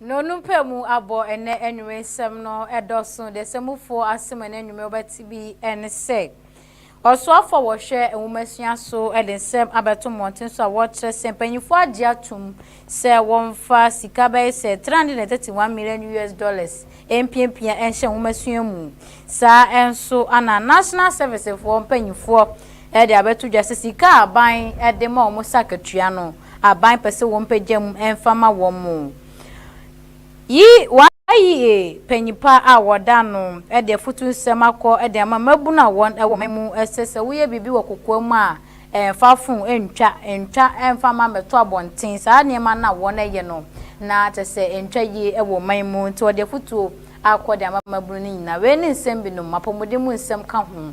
No no mpɛ mu abɔ ɛnɛ anwumɛ nsɛm no ɛdɔso deɛ sɛ mu foɔ asem ɛnɛ anwumɛ wobɛte bi ɛne sɛ ɔsoafo a wɔhwɛ nwomasua so ɛde nsɛm abɛto mmɔnten so a wɔkyerɛ sɛ mpanyinfoɔ agye atom sɛ wɔmfa sika bɛyɛ sɛ 331 million us dollars mpiapia ɛnhyɛ nwomasua mu saa ɛnso ana national service foɔ mpanyinfoɔ ɛde abɛto dwa sɛ sika a aban ɛde ma wɔn sɛ akatua no aban pɛ sɛ wɔpagya mu mfa ma wɔn. Yi wɔayi panyin pa a wɔda no de afotu nsɛm akɔ de ama mmabun a wɔn wɔ ɔman mu, ɛsɛ sɛ woyɛ biribi wɔ kokoam a mfa fon ntwa, ntwa mfa mma mmɛto abɔnten, saa nneɛma no a wɔyɛ no na kyerɛ sɛ ɛntwa yie wɔ ɔman mu, nti wɔde afotuo akɔ de ama mmabun no nyinaa. Wei ne nsɛm binom, apɔmuden mu nsɛm ka ho.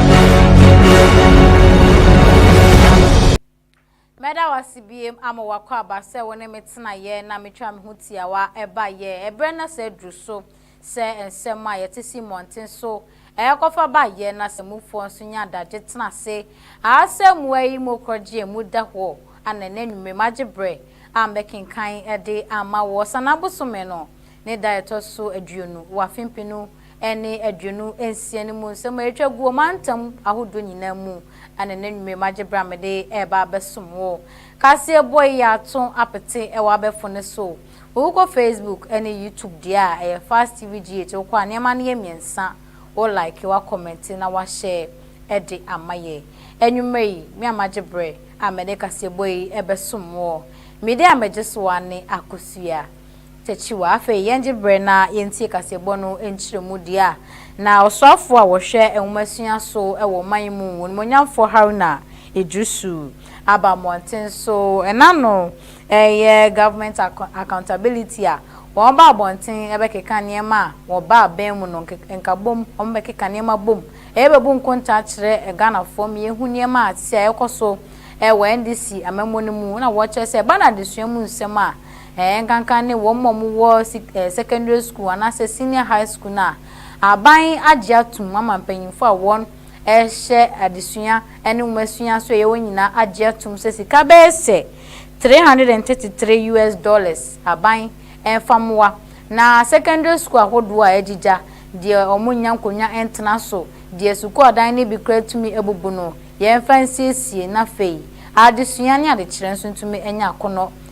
Mɛda wo ase biem ama w'akwaaba sɛ wo ne me tenaeɛ na metwa me ho tiawa baeɛ. Ɛberɛ no asa aduru so sɛ nsɛm a yɛte si mmɔnten so rekɔfa baeɛ na sɛ mufoɔ nso nya adagye tena ase a sɛ mmoa yi mu korɔgyeɛ mu da hɔ anɛ na anwummerɛ magye berɛ a mɛkenkan de ama woɔ. Sanaa bosome no Ne da a ɛtɔ so aduonu wɔ afe mpem no ne aduonu nsia no mu nsɛm a etwa gu ɔmantam ahodoɔ nyinaa mu ne n'anwummerɛ magye berɛ a mede reba abɛsom wo kaseɛ bɔ yi ato apete wɔ abɛfo no so. Wokɔ Facebook ne YouTube deɛ a, ɛyɛ Fast TV GH, wokɔ a nneɛma no yɛ mmiɛnsa, wo like, wa comment na wa share de ama yɛ. Anwummerɛ yi, me a magye berɛ a mede kaseɛbɔ yi bɛsom woɔ, me din a megye so ara ne Akosua. Takyiwa. Afei yɛngye berɛ na yɛntie kaseɛbɔ no nkyerɛmu deɛ a na ɔsoafoɔ a ɔhwɛ nwomasua so wɔ ɔman yi mu, Onimuonyamfoɔ Haruna Iddrisu aba mmɔnten so ɛna no reyɛ Government Accountability a wɔba abɔnten bɛkeka nneɛma a wɔba abɛn mu no nkabom, wɔbɛkeka nneɛma bom yɛbɛbu nkontaa akyerɛ Ghanafoɔ ma yɛhu nneɛma a ɛte a ɛrekɔ so wɔ NDC amammuo no mu na wɔkyerɛ sɛ ɛba no adesua mu nsɛm a Ɛɛ, ɛnkanka ne wɔn a wɔwɔ sik ɛɛ secondary school anaasɛ senior high school no a aban agye atom ama mpanyimfo a wɔhyɛ adesua ne nwomasua so a ɛyɛ wɔn nyinaa agye atom sɛ sika bɛyɛ sɛ three hundred and thirty three US dollars aban mfa mmoa na secondary school ahodoɔ a agyigya deɛ wɔnnya nkonnwa ntena so, deɛ sukuu adan no bi koraa tumi abubu no yɛmfa nsiesie na afei adesua ne adekyerɛ nso ntumi nya akɔnnɔ.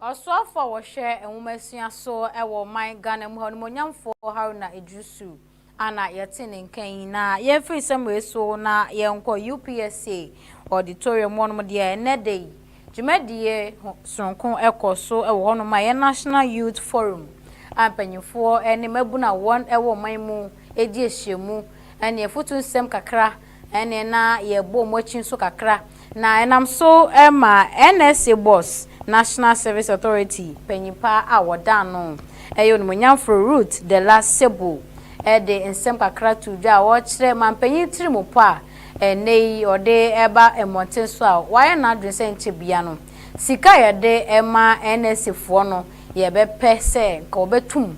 Ɔsoafoɔ a wɔhwɛ nwomasua so wɔ ɔman Ghana mu ha, Onimuonyamfoɔ Haruna Iddrisu a na yɛte ne nka yi, na yɛmfiri nsɛm wei so na yɛnkɔ UPSA auditorium hɔnom deɛ ɛnnɛ da yi dwumadie sononko kɔ so wɔ hɔnom a ɛyɛ National Youth Forum a mpanyinfoɔ ne mmabunu a wɔn wɔ ɔman mu ɛdi ahyiamu ne afutu nsɛm kakra Ɛnneɛ na yɛbɔ mo akyi nso kakra. Na ɛnam so ma NSA Boss, National Service Authority, panyin pa a wɔdan no yɛ Onimuonyamforo Ruth Della Sebo de nsɛm kakra too dwa a ɔrekyerɛ mampanyin tirimupɔ a ɛnnɛyi ɔde ba mmɔnten so a wayɛ n'adwene sɛ nkyɛ biara no sika a yɛde ma NSAfoɔ no yɛbɛpɛ sɛ nka wɔbɛto mu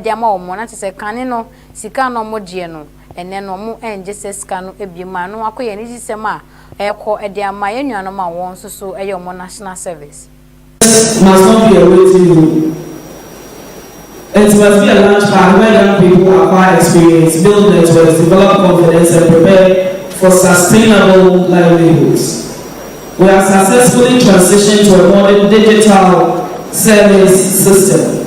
de ama wɔn no, na kyerɛ sɛ kane no sika a na wɔgyeɛ no ɛnnɛ no wɔn nngye saa sika no biom a, ɛno akɔ yɛ anigyesɛm a ɛrekɔ de ama yɛn nuanom a wɔn nso so yɛ wɔn national service. Yes, na some deɛ wagye mu. Ɛnti ma fia lunch pack where young people acquire experience, build networks, develop confidence and prepare for sustainable livelihoods. We have successfully transitioned to a modern digital service system.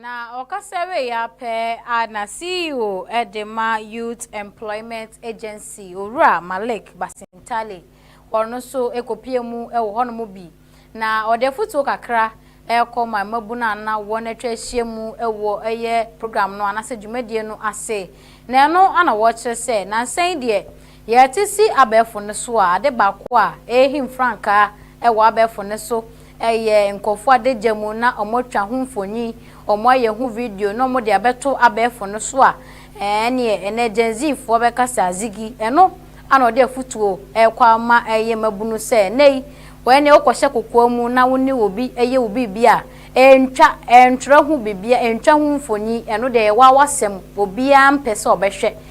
Na ɔkasa wei ara pɛ a na CEO de ma Youth Employment Agency, Owura Malik Basintale, hɔ no nso kɔpue mu wɔ hɔnom bi, na ɔde afotuo kakra rekɔ ma mmabunu a na wɔn atwa ahyia mu wɔ ɛyɛ program no anaasɛ dwumadie no ase. Na ɛno na wɔrekyerɛ sɛ nansa yi deɛ Yɛte si abɛɛfo no so a, ade baako a ɛrehim frankaa wɔ abɛɛfo no so yɛ nkurɔfo adagya mu na wɔatwa ho mfoni, wɔayɛ ho video na wɔde abɛto abɛɛfo no so a, ɛnneɛ ɛnnɛ Gen Zfoɔ bɛka sɛ azigi. Ɛno ara na ɔde afotuo rekɔ ama yɛn mmabunu sɛ, ɛnnɛ yi, wo ara nie wokɔhyɛ kokoa mu na wo ne obi yɛ wo biribi a, ɛntwa, ɛntwerɛ ho biribiara, ɛntwa ho mfoni, ɛno deɛ ɛyɛ w'awasɛm, obiara mpɛ sɛ ɔbɛhwɛ.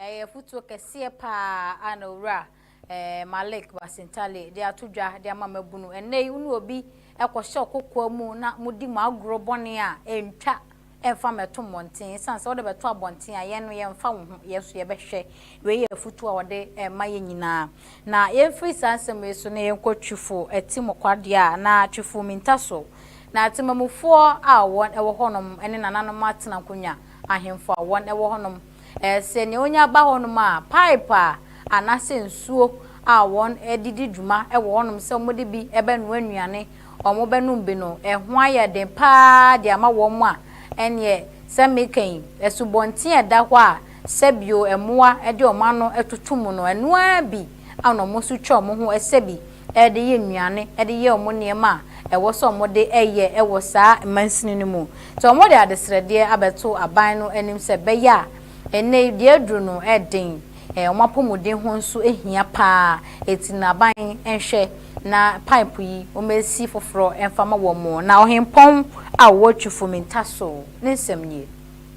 Ɛyɛ afotuo kɛseɛ pa ara a na Owura Malik Basintaley de ato dwa de ama mmabunu. Ɛnnɛ yi, wo ne obi kɔhyɛ ɔkokoa mu na modi mo agorɔ bɔne a, ɛntwa mfa mmɛto mmɔnten. Ɛsiane sɛ wode bɛto abɔnten a, yɛn no yɛmfa wo ho, yɛn nso yɛbɛhwɛ. Wei yɛ afotuo a wɔde rema yɛn nyinaa. Na yɛmfiri saa nsɛm wei so na yɛnkɔ Twifo Atimo Kwadeɛ a na Twifo Minta so na Temamufoɔ a wɔn wɔ hɔnom ne nananom atena nkonnwa, ahemfo a wɔn wɔ hɔnom. Sɛ nea onya ba hɔnom a, paep a anaasɛ nsuo a wɔde di dwuma wɔ hɔnom sɛ wɔde bi bɛnoa nnuane, wɔbɛnom bi no, ɛho ayɛ den pa ara de ama wɔn a, ɛnneɛ sɛ meka yi, asubɔnten a ɛda hɔ a sɛ bio mmoa de wɔn ano toto mu no, ɛno ara bi na wɔn nso twa wɔn ho sɛ bi. de yɛ nnuane, de yɛ wɔn nneɛma a ɛwɔ sɛ wɔde yɛ wɔ saa mansini no mu. Nti wɔde adesrɛdeɛ abɛto aban no anim sɛ ɛbɛyɛ a ɛnnɛ yi deɛ aduru no ɛden, wɔn apɔmuden ho nso hia pa ara, ɛti no aban nhwɛ na pipe yi wɔmɛsi foforɔ mfa ma wɔn na Ɔhempɔn a ɔwɔ Twifo Mintaso ne nsɛm nie.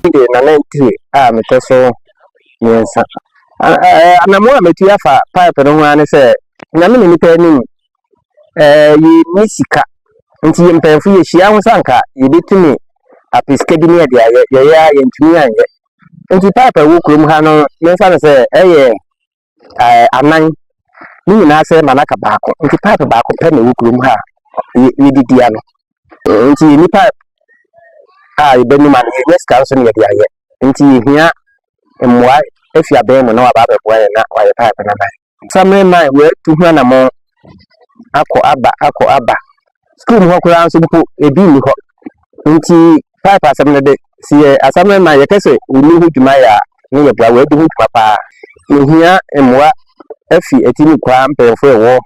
Nti na nantwie a metɔ so mmiɛnsa. Anammoa a mɛtu afa pipe no ho ara ne sɛ, nyame ne nipa anim, yɛnni sika. Nti yɛ mpanyinfo yɛhyia ho sɛ anka yɛbɛtumi ape sika bi ne yɛde ayɛ, yɛyɛ a yɛntumi anyɛ. Nti pipe a ɛwɔ kurom ha no, yɛmfa no sɛ ɛyɛ anan, ne nyinaa sɛ ma no aka baako. Nti pipe baako pɛ na ɛwɔ kurom ha a yɛde di ano. Nti yɛnni pipe a yɛbɛnom ano, yɛnyɛ sika nso ne yɛde ayɛ. Nti yɛhia mmoa afi abɛn mu na waba abɛboa yɛn na wayɛ pipe no ama yɛn. Samre man wɔatu ho anammɔn akɔ aba akɔ aba. Sukuu mu hɔ koraa nso mpo ebi nni hɔ. Nti pipe asɛm no de, sɛ yɛ asamre man yɛpɛ sɛ wɔni ho dwuma yɛ a ne yɛboa, wɔadi ho dwuma paa. Yɛhia mmoa afi Atimi Kwaa mpanyimfoɔ a ɛwɔ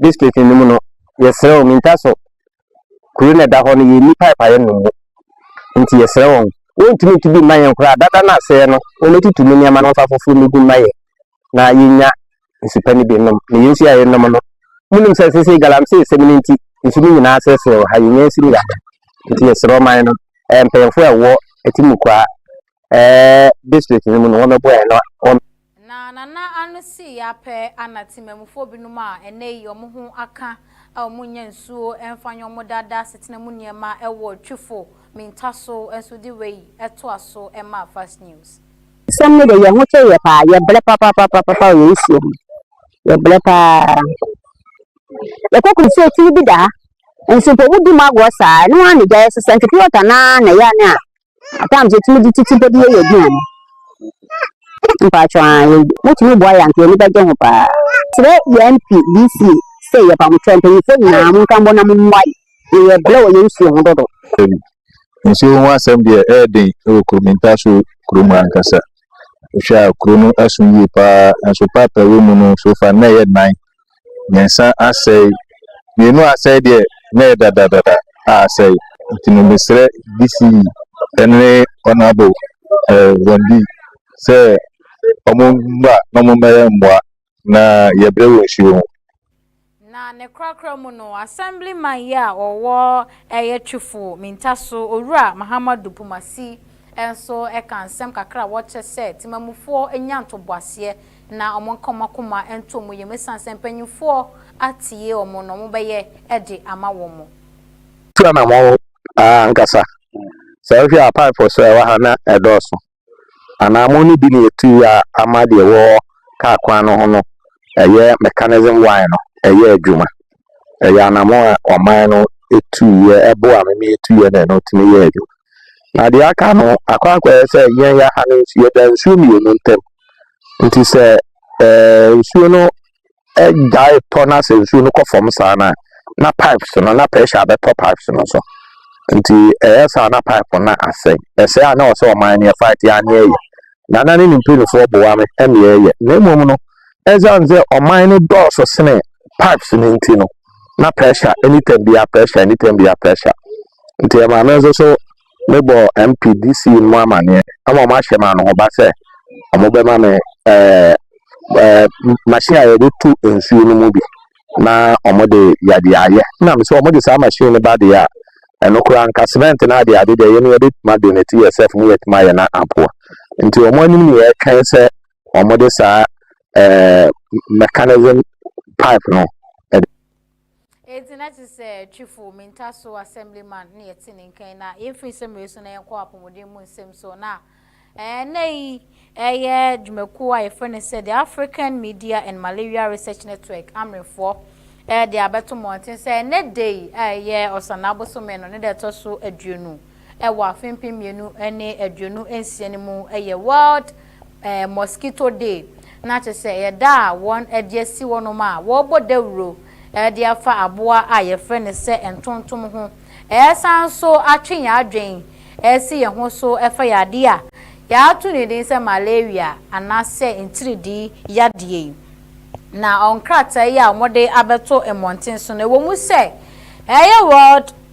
district no mu no. Yɛsrɛ wo, mintaso Kuro no a ɛda hɔ no, yɛnni pipe a yɛnom mu, enti yɛsrɛ wɔn. Wɔntumi ntu bi mma yɛn koraa. Dada no asɛeɛ no, wɔbɛtutu ne nneɛma no mfa foforɔ mmɛgu mma yɛn na yɛnya nsu pa no bi nnom. Na yɛn nsu a yɛnom no, monim sɛ seesei galamsey sɛm no nti, nsu no nyinaa asɛesɛe wɔ ha, yɛnnya nsu no yɛ adan. Enti yɛsrɛ ɔman no, mpanyimfoɔ a ɛwɔ Atimukwaa eh, district no mu no wɔbɛboɛ na wɔn. Na Nana ano sii ya pɛ a na Temamufoɔ binom a ɛnnɛ yi wɔn ho aka a wɔnnya nsuo mfa nyɛ wɔn daadaa asetena mu nneɛma wɔ Twifo Minta so nso de wei toa so maa Fast News. Asɛm no de yɛn ho kyere yɛ paa, yɛbrɛ papapapapa wɔ yɛn nsuo ho, yɛbrɛ paa. Yɛkɔ kuro sɛ tiri bi da ha, nso mpo wodi mu agorɔ saa, ɛno ara na gya yɛsesa, nti pure water no ara na ɛyɛ a ne a At times yɛtumi de titire bi yɛ yɛn aduane. Mpakyɛw aa yɛ wotumi boa yɛn anka yɛn ani bɛgye ho paa. Kyerɛ yɛn MP, DC sɛ yɛba mo kyɛn. Mpanyinfoɔ nyinaa monka mbɔ na mommoa yɛn. Yɛyɛ brɛ wɔ yɛn nsuo ho dodo. Dabi. Nsuo ho asɛm deɛ ɛyɛ den wɔ kuro mu, Ntaso kuro mu ankasa. Wohwɛ a kuro no aso yie paa, nanso pipe a ɛwɔ mu no so far no na ɛyɛ nan. mmiɛnsa asɛe, mmienu asɛe deɛ na ɛyɛ dadadada a asɛe. Nti no mesrɛ DC ne Honorable eh, Bondi sɛ wɔn mmra na wɔn mmɛyɛ mmoa na yɛbrɛ wɔ nsuo ho. Na ne korakora mu no, Assemblyman yi a ɔwɔ ɛyɛ Twifo Mintaso, Owura Mahamadou Poumasi nso ka nsɛm kakra a wɔkyɛ sɛ Temamufoɔ nya ntoboaseɛ na wɔnka wɔn akoma nto wɔn yam esiane sɛ mpanimfoɔ atie wɔn na wɔbɛyɛ de ama wɔn. Tua na mo aa ankasa sɛ wohwɛ a pipe so a ɛwɔ ha na ɛdɔɔso anaa mo no bi na yɛtu a ama deɛ ɛwɔ car kwan no ho no ɛyɛ mechanism wire no ɛyɛ adwuma ɛyɛ anamo a ɔman no tuiɛ ɛbo a meme tuiɛ na ɛno tumi yɛ adwuma na deɛ aka no akɔ akɔyɛ sɛ yɛn yɛ ha no nsuo da nsuo mmienu ntam Nti sɛ ɛɛ nsuo no gyae tɔ na sɛ nsuo no kɔ fam saa no a, na pipes no na pressure bɛtɔ pipes no so. Nti ɛyɛ saa na pipe no asɛe. Ɛsɛe a na ɔsɛ ɔman no yɛfa te aneɛ yɛ. Na na ne ne mpanimfoɔ boa me ɛne ɛyɛ. Na mmom no, ɛsiane sɛ ɔman no dɔɔso sene pipes no nti no, na pressure anytime biara pressure anytime biara pressure. Nti ɛma me nso so mebɔɔ MPDC mu amaneɛ ama wɔn ahyɛ me anohoba sɛ wɔbɛma me ɛɛ ɛɛ machine a yɛde tu nsuo no mu bi na wɔde yɛde ayɛ na me sɛ wɔde saa machine no ba deɛ a ɛno koraa nka cement no ade ade deɛ yɛ no yɛbɛtumi ade no ti yɛ sɛf mu yɛtumi ayɛ na aboa nti wɔn anim ne yɛtwɛn sɛ wɔde saa ɛɛ mechanism pipe no Enti na ɛte sɛ Twifo Minta Sow Assemblyman na yɛte ne nka yi na yemfi nsɛm wei so na yɛnkɔ apɔmuden mu nsɛm so na ɛnnɛ yi ɛyɛ dwumakuo a yɛfrɛ no sɛ The African Media and Malaria Research Network, AMREfoɔ, ɛde abɛto mmɔnten sɛ ɛnnɛ da yi a ɛyɛ Ɔsanaa bosome no ne da ɛtɔ so aduonu wɔ afe mpem mmienu ne aduonu nsia no mu yɛ World Mosquito Day, na kyerɛ sɛ ɛyɛ da a wɔde asi hɔnom a wɔbɔ dawuro de afa aboa a yɛfrɛ no sɛ ntontom ho. Ɛsan nso atwe yɛn adwene asi yɛn ho so fa yadeɛ a yɛato ne din sɛ malaria anaasɛ ntiridii yadeɛ yi. Na wɔn nkrataa yi a wɔde abɛto mmɔnten so no, ɛwɔ mu sɛ ɛyɛ World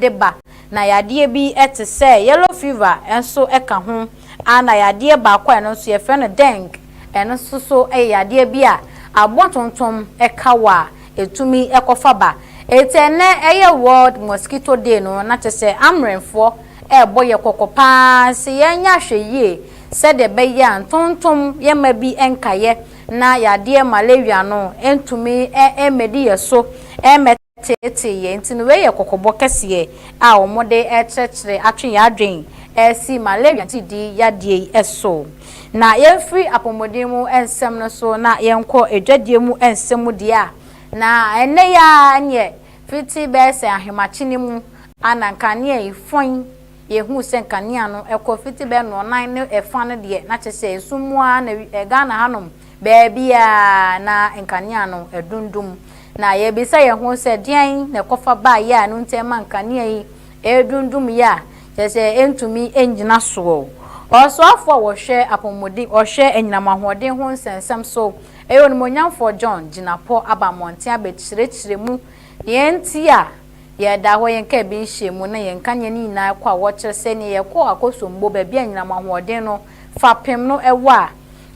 de ba, na yadeɛ bi te sɛ yellow fever nso ka ho, ɛna yadeɛ baako a ɛno nso yɛfrɛ no dengue, ɛno nso so yɛ yadeɛ bi a abontontom ka wɔ a ɛtumi kɔfa ba. Ɛnti ɛnnɛ yɛ world mosquito day no, na kyerɛ sɛ Amrɛnfoɔ ɛrebɔ yɛn kɔkɔ pa ara sɛ yɛnyɛ ahwɛyie sɛdeɛ ɛbɛyɛ a ntontom yɛmma bi nka yɛ na yadeɛ malaria no ntumi mmɛdi yɛn so mmɛ. teetee yɛn nti no, wei yɛ kɔkɔbɔ kɛseɛ a wɔde rekyerɛkyerɛ atwe yɛn adwene asi malaria gyidi yadeɛ yi so. Na yɛmfiri apɔmuden mu nsɛm no so na yɛnkɔ adwadie mu nsɛm mu deɛ a, na ɛnnɛ yi ara neɛ fiti bɛyɛ sɛ ahemakye no mu a na nkanea yi fɔn, yɛhuu sɛ nkanea no kɔ fiti bɛyɛ nnɔnnan ne fa no deɛ na kyerɛ sɛ esum mu ara na Ghana hanom Baabiara na nkanea no adundum, na yɛbisa yɛn ho sɛ, 'Deɛn na ɛkɔfa baeɛ a ɛno nti ɛma nkanea yi redundum yɛ a kyerɛ sɛ ɛntumi nnyina soɔ? Ɔsoafoɔ a ɔhwɛ apɔmuden, ɔhwɛ anyinam ahoɔden ho nsɛnsɛm so, ɛyɛ Onimuonyamfoɔ John Jinapor aba mmɔnten abɛkyerɛkyerɛ mu deɛ nti a yɛda hɔ, yɛn kar bi nhyɛɛ mu, na yɛn nkanea no nyinaa rekɔ a wɔkyerɛ sɛdeɛ yɛkɔ akɔsom bo, baabi a anyinam ahoɔden no fapem no wɔ a.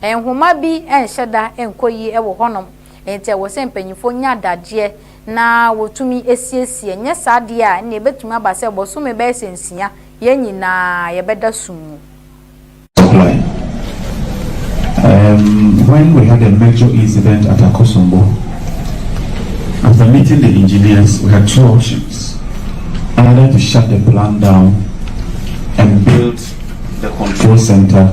Nhoma bi nhyɛ da nkɔ yie wɔ hɔnom, enti ɛwɔ sɛ mpanyimfoɔ nya adagyeɛ na wɔtumi siesie. Ɛnyɛ saa deɛ a, ɛnneɛ ɛbɛtumi aba sɛ bosome bɛyɛ sɛ nsia, yɛn nyinaa yɛbɛda sum mu. Supply. Um, when we had a major incident at Akosombo, after meeting the engineers, we had two options. Either to shut the plant down and build the control center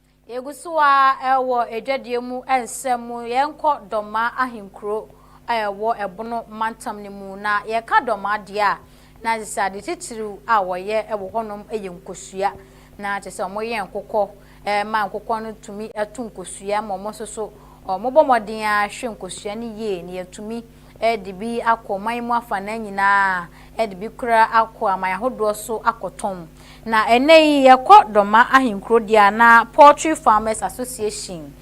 Yɛgu so ara wɔ Adwadie mu nsɛm mu. Yɛnkɔ Dɔmaa ahenkuro a ɛwɔ Ɛbono mantam no mu. Na yɛka Dɔmaa deɛ a, na kyerɛ sɛ ade titiriw a wɔyɛ wɔ hɔnom yɛ nkosua. Na kyerɛ sɛ wɔyɛ nkokɔ ma nkokɔ no tumi to nkosua ma wɔn nso so wɔbɔ mmɔden ara hwɛ nkosua no yie na yɛatumi de bi akɔ ɔman mu afanaa nyinaa, de bi koraa akɔ aman ahodoɔ so akɔtɔn. Na ɛnnɛ yi, yɛkɔ Dɔma ahenkuro deɛ a, na Poultry Farmers Association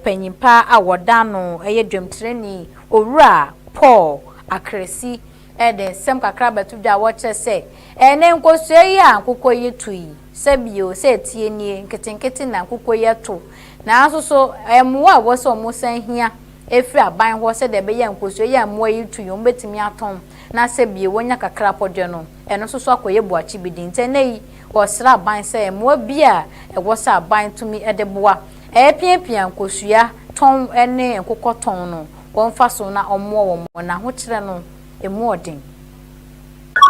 panin pa a wɔda ano yɛ dwamtirani Owura Paul Akrasi de nsɛm kakra abɛto dwa a wɔkyerɛ sɛ, ɛnnɛ nkosua yi a nkokɔ yi to yi, sɛ bio, sɛ ɛteɛ nie, nketenkete na nkokɔ yi to. Nanso so, mmoa a ɛwɔ sɛ wɔsan hia firi aban hɔ sɛdeɛ ɛbɛyɛ a nkosua yi a mmoa yi tu yi wɔbɛtumi atɔn na sɛ bie wɔnya kakra pɔ deɛ no ɛno nso so akɔyɛ buakye bi de. Nti ɛnnɛ yi wɔsrɛ aban sɛ mmoa biara a ɛwɔ sɛ aban tumi de boa ɛrepiapia nkosua tɔn ne nkokɔ tɔn no wɔmfa so na wɔmmoa wɔn na ahokyerɛ no ɛmu ɔden.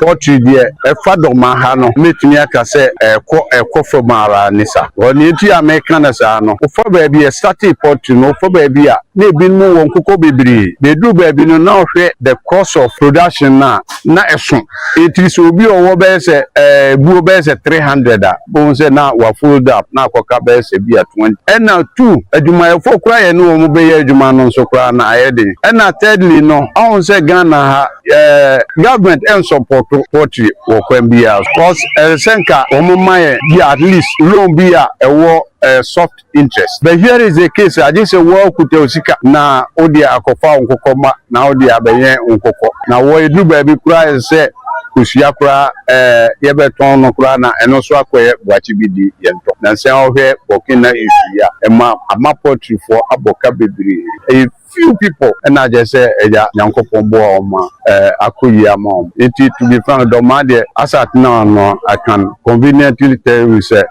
Poetry deɛ ɛfa dɔma ha no mɛtumi aka sɛ ɛkɔ ɛkɔ fam ara ne sa because nea nti a meka no saa no wofa baabi yɛ startee poetry no wofa baabi a na ebinom wɔ nkokɔ bebree na ɛduru baabi no na wohwɛ the cost of production no a na ɛso ɛtiri sɛ obi ɔwɔ bɛyɛ sɛ ɛɛ buo bɛyɛ sɛ three hundred a bohu sɛ na wa fold up na akɔka bɛyɛ sɛ bi a twenty. Ɛna two, adwumayɛfoɔ koraa yɛne wɔn bɛyɛ adwuma no nso koraa no ayɛ den. Ɛna thirdly no, ɔhu sɛ Ghana ha eh, government ɛnsɔpɔto poultry wɔ kwan biara so. Cos ɛsɛ sɛ nka wɔn ma yɛn bi a at least loan bi a ɛwɔ eh, soft. interest but here is a case agye sɛ wo ara kuta wo sika na wode akɔfa wo nkokɔ mma na wode abɛyɛn wo nkokɔ na wɔ ɛduru baabi koraa ayɛ sɛ kosua koraa ɛɛ yɛbɛtɔn no koraa na ɛno nso akɔyɛ boakye bi di yɛntɔ nansa wohwɛ Burkina issue yi a ɛma ama poultryfoɔ abɔ ka bebree ɛyɛ Few people na kyerɛ sɛ Agya Nyankopɔn boa wɔn ma akɔ yie ama wɔn. Nti to be frank, dɔmaa deɛ asɛ atena wɔn ano I can conveniently tell you sɛ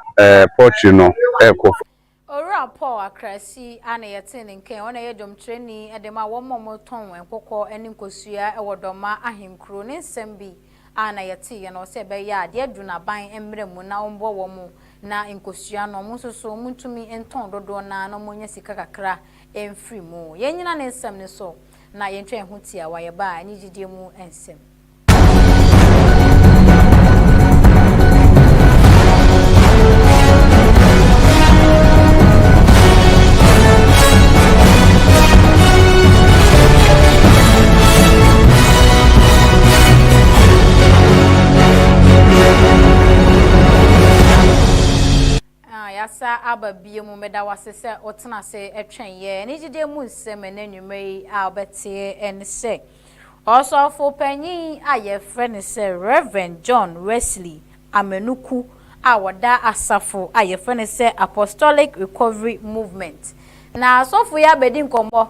poultry no ɛrekɔ fam. Owura Paul Akrasi a na yɛtee ne nka yi, ɔno na ɛyɛ dwomkyerɛni de ma wɔn a wɔtɔn nkokɔ ne nkosua wɔ Dɔmaa ahenkuro, ne nsɛm bi a na yɛteeɛ no, sɛ ɛbɛyɛ a deɛ aduru no aban mmra mu na wɔmmɔ wɔn na nkosua no, wɔn nso so wɔntumi ntɔn dodoɔ no ara na wɔnya sika kakra mfiri mu. Yɛnnyina ne nsɛm no so na yɛntwa yɛn ho tiawa, yɛba anigyedie mu nsɛm. Ah, yasa aba bie mu meda wase sɛ wotena ase ɛtwɛn yɛ ɛne gyidie mu nsɛm ɛne nnwuma yi a wobɛteɛ ɛne sɛ ɔsɔfo panyin a yɛfrɛ ne sɛ Reverend John Wesley amanyɔkuw a wɔda asafo a wɔfrɛ no sɛ Apostolic Recovery Movement. Na sɔfo yi abɛdi nkɔmmɔ,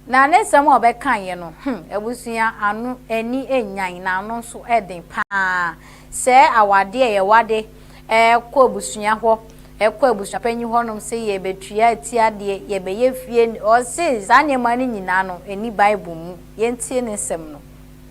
na ne nsɛm a ɔbɛkaeɛ no, hmm, abusua, ano, ani nnyan, na ano nso den pa ara. Sɛ awadeɛ a yɛwade kɔ abusua hɔ, kɔ abusuapanyin hɔnom sɛ yɛrebɛtua atiadeɛ, yɛrebɛyɛ fie, ɔse saa nneɛma no nyinaa no, ɛnni Bible mu. Yɛntie ne nsɛm no.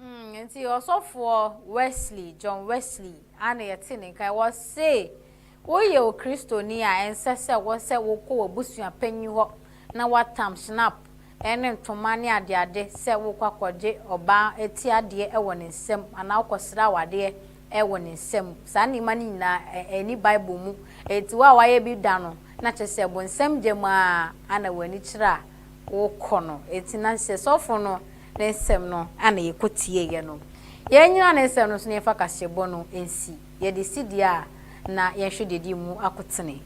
Nti Ɔsɔfoɔ Wesley, John Wesley, a na yɛte ne nka yi, ɔse, Woyɛ Okristoni a, ɛnsɛ sɛ wo sɛ wokɔ w'abusua panyin hɔ na woatam Schnapp ne ntoma ne adeade sɛ worekɔ akɔgye ɔbaa ti adeɛ wɔ ne nsam anaa wokɔsrɛ awadeɛ wɔ ne nsam. Saa nneɛma no nyinaa, ɛnni Bible mu. Enti wo a woayɛ bi da no, na kyerɛ sɛ bonsam gyam ara na w'ani kyerɛ a wokɔ no. Enti na sɛ sɔfo no Ne nsɛm no a na yɛkɔtieeɛ no. Yɛanyina ne nsɛm no so na yɛmfa kaseɛbɔ no nsi, yɛde si deɛ a na yɛnhwɛ deɛ ɛdi mu akotene.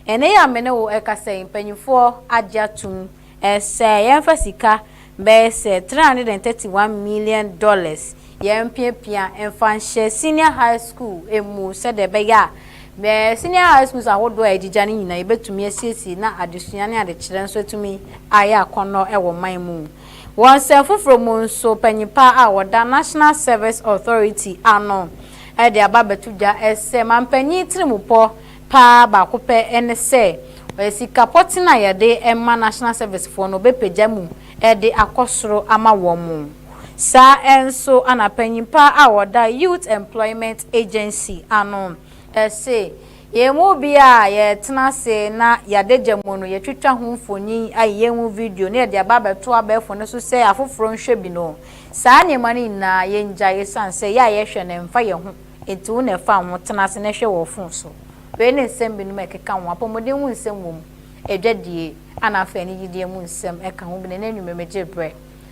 Ɛnnɛ yi a me ne wo rekasa yi, mpanimfoɔ agye atom sɛ yɛmfa sika bɛyɛ sɛ three hundred and thirty one million dollars yɛmpiapia mfa nhyɛ senior high school mu sɛdeɛ ɛbɛyɛ a senior high schools ahodoɔ a agyigya no nyinaa yɛbɛtumi asiesie na adesua ne adekyerɛ nso atumi ayɛ akɔnnɔ wɔ man mu. Wɔ nsɛm foforo mu nso, panyin pa a wɔda National Service Authority ano de aba abɛto dwa sɛ mampanyin tirimupɔ pa ara baako pɛ ne sɛ ɔyɛ sika pɔtee a wɔde ma National Servicefoɔ no wɔbɛpagya mu de akɔ soro ama wɔn. Saa ara nso na panyin pa a ɔda Youth Employment Agency ano. Ɛse, yɛn mu bi a yɛretena ase na y'adagya mu no, yɛtwitwa ho mfonin, ayeyɛ ho video na yɛde aba abɛto abɛɛfo no so sɛ afoforo nhwɛ bi no. Saa nneɛma no nyinaa, yengyae esiane sɛ yɛ a yɛhwɛ no ɛmfa yɛn ho. Enti wo na ɛfa wo ho, tena ase na hwɛ wɔ fon so. Wei ne nsɛm binom a ɛkeka ho, apɔmuden mu nsɛm wom, adwadie, ɛna afei anigyedeɛ mu nsɛm ka ho bi. Na ɛnnɛ anwummere megye berɛ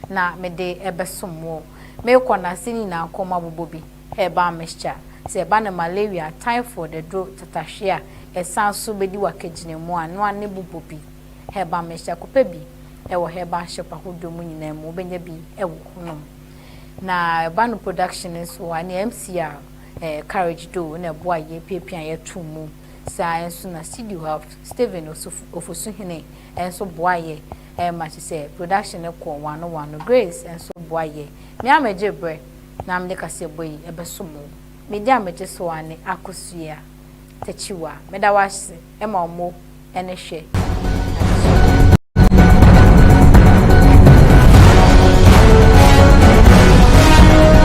na mede bɛsom wo. Merekɔ no, ase no nyinaa kɔn mu abobɔ bi. Herbal mixture, Sɛ ɛba no malaria, typhoid, aduro, tatahwe a, ɛsan nso bɛdi w'akagyinamu a, noa ne bobɔ bi. Herbal mixture, Kɔpɛ bi wɔ herbal shop ahodoɔ mu nyinaa mu, wobɛnya bi wɔ hɔ nom. Na ɛba no production no nso a, ɛneɛ MCR Courage Doo na ɛboa yɛ piapia yɛ too mu. Saa nso na studio ha Stephen Ofosuhene nso boa yɛ ma kye sɛ production no kɔ wano wano. Grace nso boa yɛ. Me ara mɛgye berɛ. na mede kaseɛbɔ yi bɛsom wo. Mede amegye so ara ne Akosua Takyiwa. Meda wo ase ma wo mo ne hwɛ adesua.